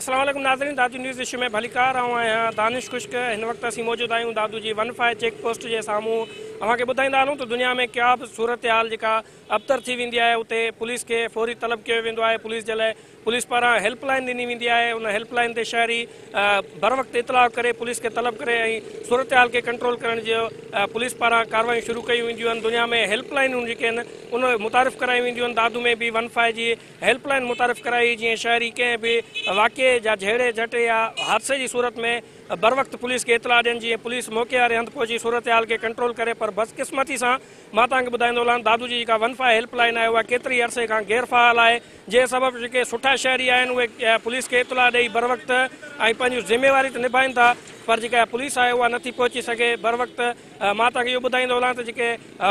السلام عليڪم ناظرين دادو نيوز ايشيا ۾ ڀليڪار آئون آهيان دانش خشڪ هن وقت اسين موجود آهيون دادو جي ون فائي چيڪ پوسٽ جي سامهون اوهان کي ٻڌائيندا هلون ته دنيا ۾ ڪيا به صورتحال جيڪا ابتر ٿي ويندي آهي اتي پوليس کي فوري طلب ڪيو ويندو آهي پوليس جي لاء پوليس پاران هيلپ لائين ڏني ويندي آهي ان هيلپ لائين تي شهري بروقت اطلاع ڪري پوليس کي طلب ڪري ۽ صورتحال کي ڪنٽرول ڪرڻ جي پوليس پاران ڪاروايون شروع ڪيون وينديون آهن دنيا ۾ هيلپ لائينون جيڪي آهن ان متعارف ڪرايون وينديون آهن دادو ۾ به ون فائي جي هيلپ لائين متعارف ڪرائي جيئن شهري ڪنهن به واقعي جا جهيڙي جهٽ يا حادثي جي صورت ۾ بروقت پوليس کي اطلاع ڏين جيئن پوليس موقعي واري هنڌ پهچي صورتحال کي ڪنٽرول ڪري پر بدقسمتي سان مان توهان کي ٻڌائيندو هلان دادو جي جيڪا ون فائي هيلپ لائين آهي اها ڪيتري عرصي کان غير فعال آهي جنهن سبب جيڪي سٺا شهري آهن اهي پوليس کي اطلاع ڏئي بروقت ۽ پنهنجون ذميواري ته نڀائين ٿا پر جيڪا پوليس آهي اها نٿي پهچي سگهي بروقت مان توهان کي اهو ٻڌائيندو هلان ته جيڪي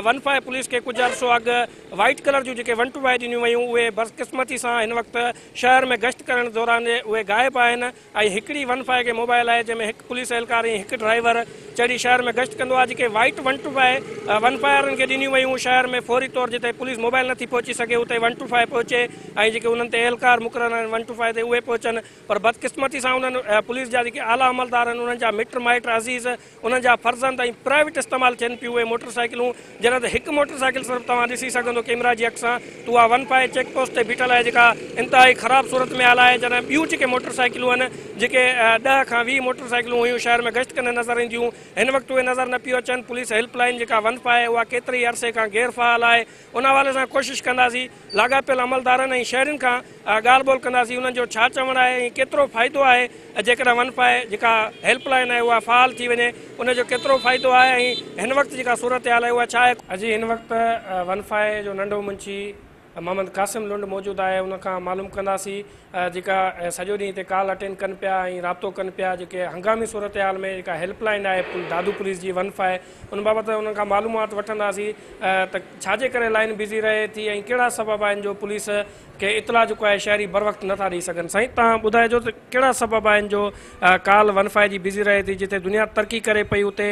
ون فائيو پوليس کي ڪجهه عرصو اڳ وائيٽ ڪلر جون جيڪي ون ٽو وائي ڏنيون ويون اهي بدقسمتي سان هن وقت شهر ۾ گشت ڪرڻ دوران اهي غائب آهن اهي هڪڙي ون فائيو ڪي موبائل آهي جنهن ۾ هڪ پوليس اهلڪار ۽ هڪ ڊرائيور چڙهي شهر ۾ گشت ڪندو آهي جيڪي white one two five one فائرن کي ڏنيون ويون شهر ۾ فوري طور جتي پوليس موبائل نٿي پهچي سگهي اتي ون ٽو فائيو پهچي ۽ جيڪي انهن تي اهلڪار مقرر آهن ون ٽو فائيو تي اهي پهچن پر بدقسمتي سان انهن پوليس جا جيڪي اعليٰ عملدار آهن انهن جا مٽ مائٽ عزيز انهن جا فرزند ۽ پرائيويٽ استعمال ٿين پيون اهي موٽر سائيڪلون جڏهن ته هڪ موٽر سائيڪل صرف توهان ڏسي سگهندو ڪيمرا جي اک سان ته اها ون فائي چيڪ پوسٽ تي بيٺل آهي جيڪا انتهائي خراب صورت ۾ آل آهي جڏهن ٻيون جيڪي موٽر سائيڪلون آهن جيڪي ڏهه کان ويهه موٽر سائيڪلون هيون شهر ۾ گشت ڪندي نظر اينديون هن وقت اهي نظر نه پيو اچن پوليس هيلپ لائين جيڪا ون فائي اها ڪيتري ئي عرصي کان غير فعال آهي ان حوالي سان ڪوشش ڪنداسين لاڳاپيل عملدارن ۽ شهرين کان ڳالهه ٻولهه ڪنداسين انهن جو ڇا چوڻ آهي ۽ ڪيترو فائدو آهي جيڪڏهن ون فائي جيڪا هيلپ لائين آهي اها فعال ٿي وڃي ان جو ڪيترو فائدو آهي ۽ هن وقت جيڪا صورتحال آهي اها ڇا آهي. جي هن وقت ون فائي جو ننڍو منشي محمد قاسم لنڊ موجود آهي ان کان معلوم ڪنداسين جيڪا سڄو ڏينهن هتي ڪال اٽينڊ ڪن پيا ۽ رابطو ڪن پيا جيڪي هنگامي صورتحال ۾ جيڪا هيلپ لائين آهي دادو پوليس جي ون فائي ان بابت انهن کان معلومات وٺنداسين ته ڇا جي ڪري لائين بزي رهي ٿي ۽ ڪهڙا سبب آهن جو پوليس کي اطلاع جيڪو آهي شهري بروقت نٿا ڏئي سگهن سائين تهان ٻڌائجو ته ڪهڙا سبب آهن جو ڪال ون فائي جي بزي رهي ٿي جتي دنيا ترقي ڪري پئي اتي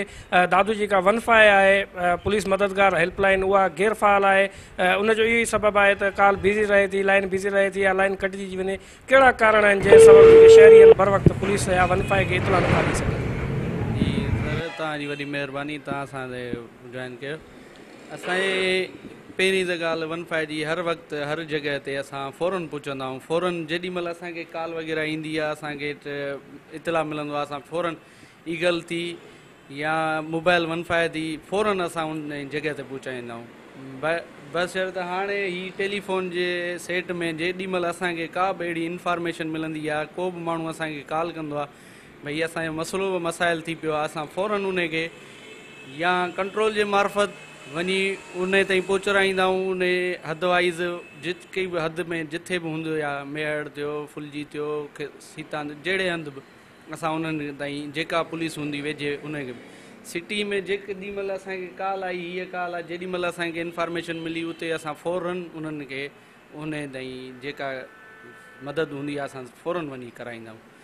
دادو جيڪا ون فائي آهي پوليس مددگار هيلپ لائين اها غير فعال آهي ان جو اهو ئي سبب آهي ته ڪال بزي رهي ٿي لائين بزي رهي ٿي يا لائين ڪٽجي جي وڃي ڪهڙا ڪارڻ آهن جنهن سبب ان کي شهرين بروقت پوليس يا ونفاء کي اطلاع نٿا ڏئي سگهن. جي سر توهان جي وڏي مهرباني توهان اسان تي جوائن ڪيو اسان جي پهرين ته ڳالهه ونفاء جي هر وقت هر جڳهه تي اسان فورن پهچندا آهيون فورن جيڏي مهل اسان کي ڪال وغيره ايندي آهي اسان کي اطلاع ملندو آهي اسان فورن ئي غلطي يا موبائل ونفائدي فورن اسان ان جڳهه تي پهچائيندائون بشرط هاڻي هي ٽيليفون جي سيٽ ۾ جيڏي مهل اسان کي ڪا به اهڙي انفارميشن ملندي يا ڪو به ماڻهو اسان کي ڪال ڪندو آهي ڀئي اسان جو مسئلو به مسائل ٿي پيو آهي اسان فورن ان کي يا ڪنٽرول جي معرفت وڃي ان تائين پهچرائيندائون ان حد وائز جتڪي به حد ۾ جٿي به هوندو يا ميهڙ ٿيو ڦلجي ٿيو سيتان جهڙي هنڌ به اسان انهن تائين جيڪا پوليس هوندي ويجهي انهن کي سٽي ۾ جيڪڏهن مهل اسان کي ڪال آئي هيء ڪال آئي جيڏي مهل اسان کي انفارميشن ملي اتي اسان فورن انهن کي انهن تائين جيڪا مدد هوندي آهي اسان فورن وڃي ڪرائيندا آهيون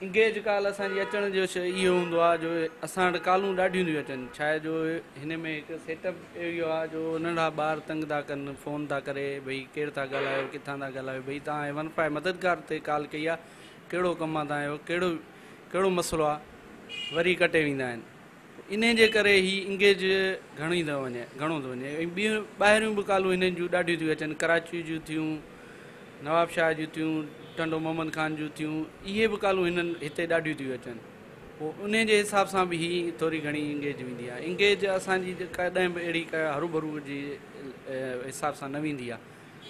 انگيج ڪال اسان جي اچڻ جو اهو هوندو آهي جو اسان وٽ ڪالون ڏاڍيون ٿيون اچن ڇا جو هن ۾ هڪ سيٽ اپ اهو آهي جو ننڍا ٻار تنگ ٿا ڪن فون ٿا ڪري ڀئي ڪير ٿا ڳالهايو ڪٿان ٿا ڳالهايو ڀئي تان ون فائيو مددگار تي ڪال ڪئي آهي ڪهڙو ڪم آ توهان جو، ڪهڙو ڪهڙو مسئلو آ، وري ڪٽي ويندا آهن. انهيء جي ڪري هي انگيج گهڻي ٿو وڃي، گهڻو ٿو وڃي ۽ ٻيون ٻاهريون به ڪالون هنن جون ڏاڍيون ٿيون اچن، ڪراچيء جون ٿيون، نواب شاهه جون ٿيون، ٽنڊو محمد خان جون ٿيون، اهي به ڪالون هنن هتي ڏاڍيون ٿيون اچن. پوء انهيء جي حساب سان به هي ٿوري گهڻي انگيج ويندي آ. انگيج اسان جي ڪڏهن به اهڙي ڪا هروڀرو جي حساب سان نه ويندي آ.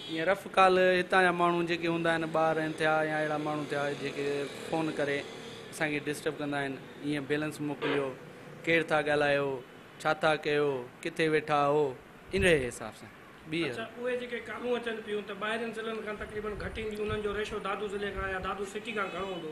ائين رف ڪال هتان جا ماڻهو جيڪي هوندا آهن ٻار آهن ٿيا يا اهڙا ماڻهو ٿيا جيڪي فون ڪري اسان کي ڊسٽرب ڪندا آهن ائين بيلنس موڪليو ڪير ٿا ڳالهايو ڇا ٿا ڪيو ڪٿي ويٺا آهو انهي حساب سان ٻي اڇا اهي جيڪي ڪالون اچن پيون ته ٻاهرين ضلعن کان تقريبن گهٽ اينديون انهن جو ريشو دادو ضلعي کان يا دادو سٽي کان گهڻو هوندو.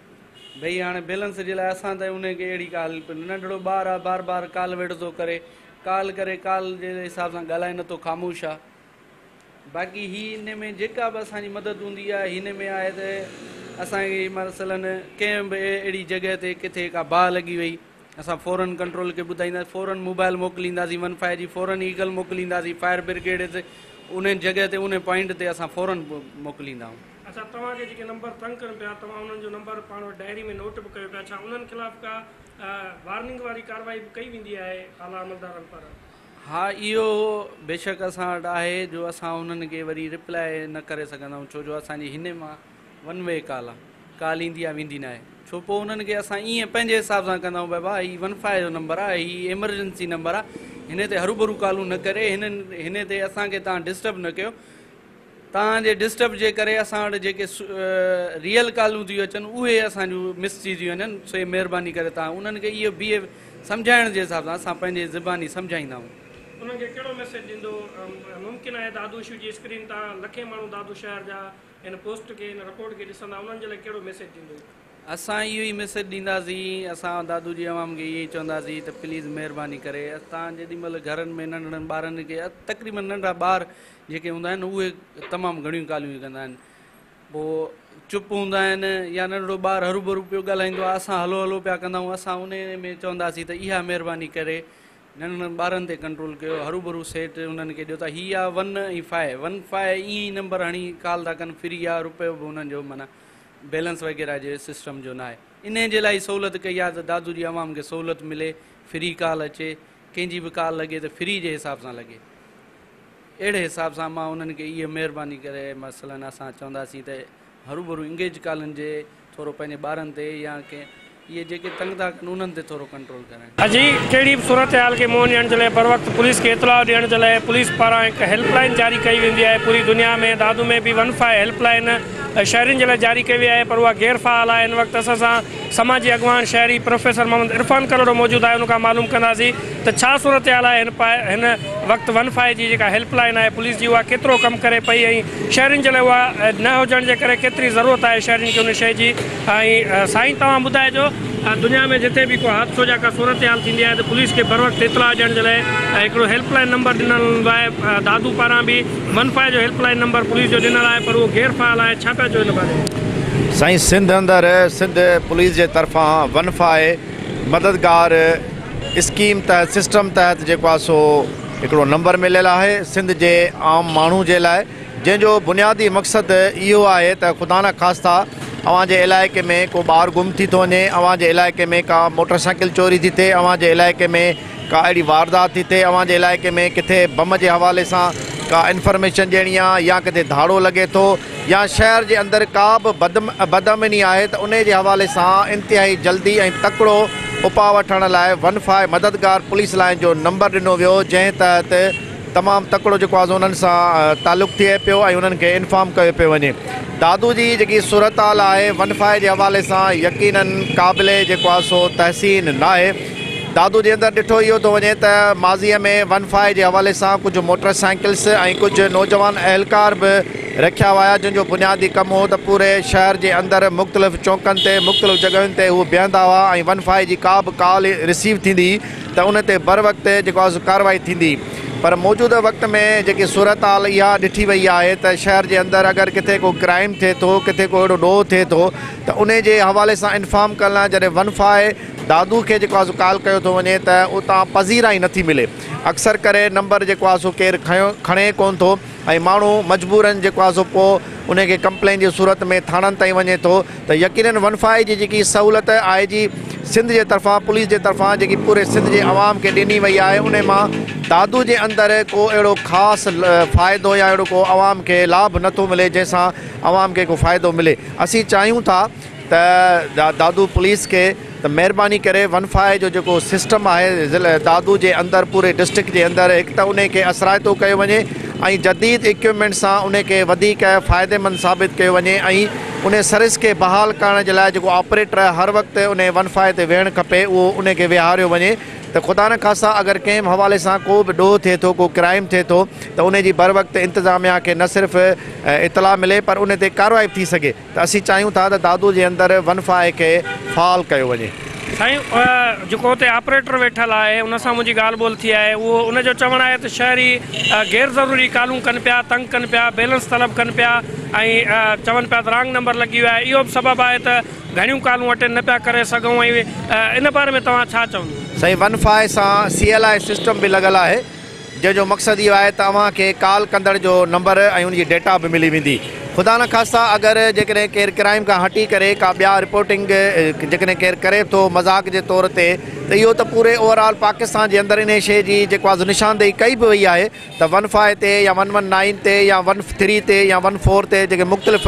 ڀئي هاڻي بيلنس جي لاء اسان تائين انهي کي اهڙي ڪا هيلپ نه. ننڍڙو ٻار آ بار بار ڪال ويڙهه ٿو ڪري ڪال ڪري ڪال جي حساب سان ڳالهائي نه ٿو خاموش آ باقي هي انهي ۾ جيڪا به اسان جي مدد هوندي آ هي انهي ۾ آهي ته اسان کي مثلا ڪنهن به اهڙي جڳهه تي ڪٿي ڪا باهه لڳي وئي اسان فورن ڪنٽرول کي ٻڌائيندا فورن موبائل موڪلينداسين ون فائي جي فورن ايگل موڪلينداسين فائر برگيڊ انهي جڳهه تي انهي پوائنٽ تي اسان فورن موڪليندا آهون. اچا توهان کي جيڪي نمبر تنگ ڪن پيا توهان انهن جو نمبر پاڻ وٽ ڊائري ۾ نوٽ به ڪيو پيا ڇا انهن خلاف ڪا وارننگ واري ڪارروائي به ڪئي ويندي آهي اعليٰ عملدارن پر. ها اهو بيشڪ اسان وٽ آهي جو اسان انهن کي وري ريپلاء نه ڪري سگهندائون ڇو جو اسان جي هني مان ون وي ڪال آهي ڪال ايندي آهي ويندي ناهي ڇو پوء انهن کي اسان ايئن پنهنجي حساب سان ڪندائون ڀاء ڀاء هي ون فائي جو نمبر آهي هي ايمرجنسي نمبر آهي هني تي هروڀرو ڪالون نه ڪري هنن هني تي اسان کي تان ڊسٽرب نه ڪيو توهان جي ڊسٽرب جي ڪري اسان وٽ جيڪي ريئل ڪالون ٿيون اچن اهي اسان جون مس ٿي ٿيون وڃن سوئي مهرباني ڪري توهان انهن کي اهو بي سمجهائڻ جي حساب سان اسان پنهنجي زباني سمجهائيندا آهيون. انهن کي ڪهڙو ميسيج ڏيندو؟ ممڪن آهي دادو شو جي اسڪرين تان لکين ماڻهو دادو شهر جا هن پوسٽ کي هن رپورٽ کي ڏسندا انهن جي لاء ڪهڙو ميسيج ڏيندو؟ اسان اهو ئي ميسيج ڏينداسين اسان دادو جي عوام کي اهو ئي چونداسين ته پليز مهرباني ڪري توهان جيڏي مهل گهرن ۾ ننڍڙن ٻارن کي تقريبن ننڍا ٻار جيڪي هوندا آهن اهي تمام گهڻيون ڳالهيون ئي ڪندا آهن پوء چپ هوندا آهن يا ننڍڙو ٻار هروڀرو پيو ڳالهائيندو آهي اسان هلو هلو پيا ڪندا آهيون اسان انهي ۾ چونداسين ته اها مهرباني ڪري ننڍڙن ٻارن تي ڪنٽرول ڪيو هروڀرو سيٽ انهن کي ڏيو ته هي آهي ون ۽ فائي ون فائي ائين ئي نمبر هڻي ڪال ٿا ڪن فري آهي روپيو به انهن جو معنيٰ بيلنس وغيره جي سسٽم جو ناهي انهي جي لاء ئي سهولت ڪئي آهي ته دادو جي عوام کي سهولت ملي فري ڪال اچي ڪنهن جي به ڪال لڳي ته فري جي حساب سان لڳي اهڙي حساب سان مان انهن کي اهي مهرباني ڪري مثلا اسان چونداسين ته هروڀرو انگيج ڪالن جي ٿورو پنهنجي ٻارن تي يا ڪنهن اهي جيڪي تنگ ٿا ڪن انهن تي ٿورو ڪنٽرول ڪرائين. اڄي ڪهڙي به صورتحال کي منهن ڏيڻ جي لاء بروقت پوليس کي اطلاع ڏيڻ جي لاء پوليس پاران هڪ هيلپ لائين جاري ڪئي ويندي آهي پوري دنيا ۾ دادو ۾ به ون فائو هيلپ لائين شهرين جي لاء جاري ڪئي وئي آهي پر اها غير فعال آهي هن وقت اسان سان سماجي اڳواڻ شهري پروفيسر محمد عرفان ڪلهوڙو موجود آهي ان کان معلوم ڪنداسين ته ڇا صورتحال آهي هن پاء هن وقت ون فائي جي جيڪا هيلپ لائين آهي پوليس جي اها ڪيترو ڪم ڪري پئي ۽ شهرين جي لاء اها نه هجڻ جي ڪري ڪيتري ضرورت آهي شهرين کي ان شئي جي ۽ سائين توهان ٻڌائجو دنيا ۾ جتي به ڪو حادثو جا ڪا صورتحال ٿيندي آهي ته پوليس کي بروقت اطلاع ڏيڻ جي لاء هڪڙو هيلپ لائين نمبر ڏنل هوندو آهي دادو پاران به منفا جو هيلپ لائين نمبر پوليس جو ڏنل آهي پر اهو غير فعال آهي ڇا پيا چئو ان باري ۾؟ سائين سنڌ اندر سنڌ پوليس جي طرفان ونفا مددگار اسڪيم تحت سسٽم تحت جيڪو آهي سو هڪڙو نمبر مليل آهي سنڌ جي عام ماڻهو جي لاء جنهن جو بنيادي مقصد اهو آهي ته خدا نه خاستا اوهان جي علائقي ۾ ڪو ٻار گم ٿي ٿو وڃي اوهان جي علائقي ۾ ڪا موٽر سائيڪل چوري ٿي ٿئي اوهان جي علائقي ۾ ڪا اهڙي واردات ٿي ٿئي اوهان جي علائقي ۾ ڪٿي بم جي حوالي سان ڪا انفرميشن ڏيڻي آ يا ڪٿي ڌاڙو لڳي ٿو يا شهر جي اندر ڪا به بد بدامني آهي ته انهي جي حوالي سان انتهائي جلدي ۽ تڪڙو اپاء وٺڻ لاء ون فائو مددگار پوليس لائين جو نمبر ڏنو ويو جنهن تحت تمام تڪڙو جيڪو آز انهن سان تعلق ٿئي پيو ۽ انهن کي انفام ڪيو پيو وڃي دادو جي جيڪي صورتحال آهي ونفائي جي حوالي سان يقينا قابل جيڪو آ سو تحسين ناهي دادو جي اندر ڏٺو اهو ٿو وڃي ته ماضي ۾ ونفائي جي حوالي سان ڪجهه موٽر سائيڪلس ۽ ڪجهه نوجوان اهلڪار به رکيا ويا جن جو بنيادي ڪم هو ته پوري شهر جي اندر مختلف چونڪن تي مختلف جڳهين تي هو بيهندا هئا ۽ ونفائي جي ڪا به ڪال رسيو ٿيندي ته ان تي بروقت جيڪو آهي سو ڪارروائي ٿيندي پر موجوده وقت ۾ جيڪي صورتحال اها ڏٺي وئي آهي ته شهر جي اندر اگر ڪٿي ڪو ڪرائيم ٿئي ٿو ڪٿي ڪو اهڙو ڏوهه ٿئي ٿو ته انهي جي حوالي سان انفارم ڪرڻ لاء جڏهن ون فائي دادو کي جيڪو آهي سو ڪال ڪيو ٿو وڃي ته اتان پذيرائي نٿي ملي اڪثر ڪري نمبر جيڪو آهي سو ڪير کڻي ڪونه ٿو ۽ ماڻهو مجبورن جيڪو آهي سو پوء انهي کي ڪمپلين جي صورت ۾ ٿاڻن تائين وڃي ٿو ته يقينن ون فائي جي جيڪي سهولت آء جي سنڌ جي طرفان پوليس جي طرفان جيڪي پوري سنڌ جي عوام کي ڏني وئي آهي انهي مان دادو جي اندر ڪو اهڙو خاص فائدو يا اهڙو ڪو عوام کي لاڀ نه ٿو ملي جنهن سان عوام کي ڪو فائدو ملي اسين چاهيون ٿا ته دادو پوليس کي ته مهرباني ڪري ون فائو جو جيڪو سسٽم آهي ضلع دادو جي اندر پوري ڊسٽرڪٽ جي اندر هڪ ته انهي کي اثرائتو ڪيو وڃي ۽ جديد اڪيوپمينٽ سان انهي کي وڌيڪ فائدي مند ثابت ڪيو وڃي ۽ انهي سروس کي بحال ڪرڻ جي لاء جيڪو آپريٽر هر وقت انهي ون فائو تي ويهڻ کپي اهو انهي کي ويهاريو وڃي ته خدا نه خاصا اگر ڪنهن به حوالي سان ڪو به ڏوهه ٿئي ٿو ڪو ڪرائيم ٿئي ٿو ته انهي جي بر وقت انتظاميا کي نه صرف اطلاع ملي پر انهي تي ڪارروائي به ٿي سگهي. ته اسين چاهيون ٿا ته دادو جي اندر ون فائي کي فعال ڪيو وڃي. سائين جيڪو اتي آپريٽر ويٺل آهي ان سان منهنجي ڳالهه ٻولهه ٿي آهي اهو ان جو چوڻ آهي ته شهري غير ضروري ڪالون ڪن پيا تنگ ڪن پيا بيلنس طلب ڪن پيا ۽ چون پيا ته رانگ نمبر لڳي ويو آهي اهو به سبب آهي ته گهڻيون ڪالون اٽينڊ نه پيا ڪري سگهون ۽ ان باري ۾ توهان ڇا چوندو. سائين ون فائي سان سي ايل آء سسٽم به لڳل آهي جنهن جو مقصد اهو آهي ته اوهان کي ڪال ڪندڙ جو نمبر ۽ ان جي ڊيٽا به ملي ويندي. خدا نه خاصا اگر جيڪڏهن ڪير ڪرائيم کان هٽي ڪري ڪا ٻيا رپورٽنگ جيڪڏهن ڪير ڪري ٿو مذاق جي طور تي ته اهو ته پوري اوورآل پاڪستان جي اندر انهي شيء جي جيڪو آز نشاندهي ڪئي به وئي آهي ته ون فائي تي يا ون ون نائين تي يا ون ٿري تي يا ون فور تي جيڪي مختلف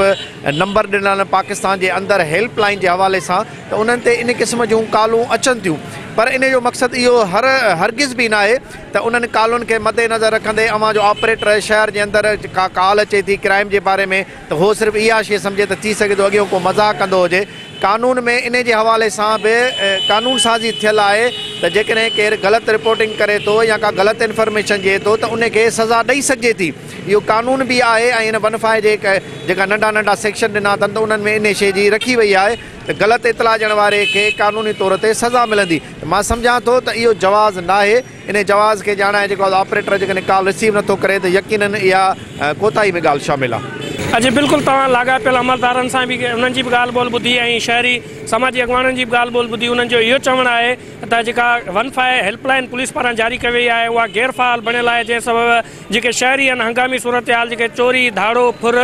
نمبر ڏنل آهن پاڪستان جي اندر هيلپ لائين جي حوالي سان ته انهن تي انهي قسم جون ڪالون اچن ٿيون پر انهي جو مقصد اهو هر هرگز به ناهي ته انهن ڪالن کي مد نظر رکندي اوهان جو آپريٽر شهر جي اندر ڪا ڪال اچي ٿي ڪرائيم جي باري ۾ ته هو صرف اها شي سمجهي ته ٿي سگهي ٿو اڳيون ڪو مذاق ڪندو هجي قانون ۾ انهي جي حوالي سان به قانون سازي ٿيل آهي ته جيڪڏهن ڪير غلط رپورٽنگ ڪري ٿو يا ڪا غلط انفرميشن ڏئي ٿو ته انهي کي سزا ڏئي سگهجي ٿي اهو قانون به آهي ۽ هن ونفا جي جيڪا ننڍا ننڍا سيڪشن ڏنا اٿن ته انهن ۾ انهي شي جي رکي وئي آهي ته غلط اطلاع ڏيڻ واري کي قانوني طور تي سزا ملندي ته مان سمجهان ٿو ته اهو جواز ناهي انهي جواز کي ڄاڻائي جيڪو آز آپريٽر جيڪڏهن ڪال رسيو نٿو ڪري ته يقينن اها ڪوتاهي ۾ ڳالهه شامل آهي. اجي بلڪل توهان لاڳاپيل عملدارن سان به انهن جي به ڳالهه ٻولهه ٻڌي ۽ شهري سماجي اڳواڻن جي به ڳالهه ٻولهه ٻڌي انهن جو اهو چوڻ آهي ته جيڪا one five help line police پاران جاري ڪئي وئي آهي اها غير فعال بڻيل آهي جنهن سبب جيڪي شهري آهن هنگامي صورتحال جيڪي چوري ڌاڙو ڦر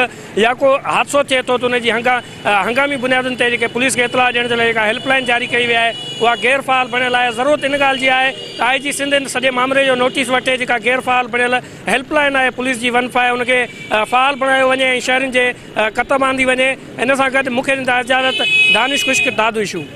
يا ڪو حادثو ٿئي ٿو ته انهي جي هنگا هنگامي بنيادن تي جيڪي پوليس کي اطلاع ڏيڻ جي لاء جيڪا هيلپ لائين جاري ڪئي وئي آهي اها غير فعال بڻيل آهي ضرورت ان ڳالهه جي آهي ته آء جي سنڌ هن سڄي مامري جو نوٽيس وٺي جيڪا غير فعال بڻيل هيلپ لائين آهي پوليس جي ون فائو ان کي فعال بڻايو وڃي ۽ شهرين جي ڪتب آندي وڃي ان سان گڏ مون کي ڏيندا اجازت دانش خشڪ دادوشو.